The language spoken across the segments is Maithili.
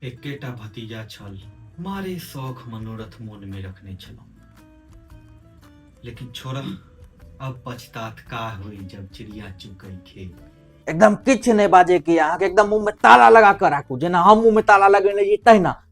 एकेटा भतीजा छल मारे शौक मनोरथ मोन में रखने छलहुँ लेकिन छोरा अब पछतात का हुई जब चिड़िया चुकई खेत एकदम किछु नहि बाजैके यऽ अहाँके एकदम मुँहमे ताला लगा कऽ राखू जेना हम मुँहमे ताला लगेने छी तहिना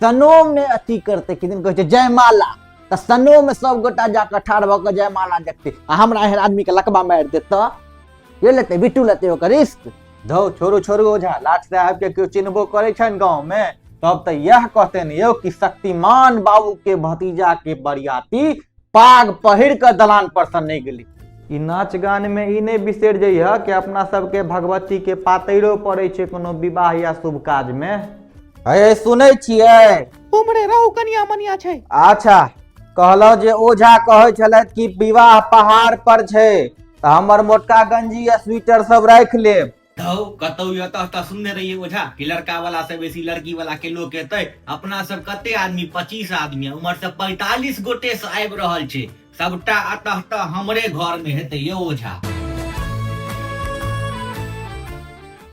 सनोम ने अथी करते किदिन कहे जयमाला तऽ सनो में सब गोटा जाकर ठाढ़ भऽ कऽ जयमाला देखते आ हमरा एहन आदमी के लकबा मारि देत तऽ के लेते बिट्टू लेते ओकर रिस्क धौ छोड़ू छोड़ू ओझा लाट साहब के केओ चिन्हबो करे छनि गाँव में तब तऽ इएह कहते ने यौ कि शक्तिमान बाबू के भतीजा के बरियाती पाग पहिर कऽ दलान पर सँ नहि गेली ई नाच गान में ई नहि बिसरि जइह कि अपना सबके भगवती के पातैरो पड़ै छै कोनो विवाह या शुभ काज में हे सुनै छियै उमरे रहू कनिया मनिया छै अच्छा कहलहुँ जे ओझा कहै छलथि कि विवाह पहाड़ पर छै तऽ हमर मोटका गंजी आ स्वेटर सब राखि लेब धौ कतौ यत तऽ सुनने रहिए ओझा कि लड़का वाला से बेसी लड़की वाला के लोक एतै अपना सब कते आदमी पच्चीस आदमी उम्हर से पैतालीस गोटे से आबि रहल छै सबटा अतः तऽ हमरे घर में हेतै यौ ओझा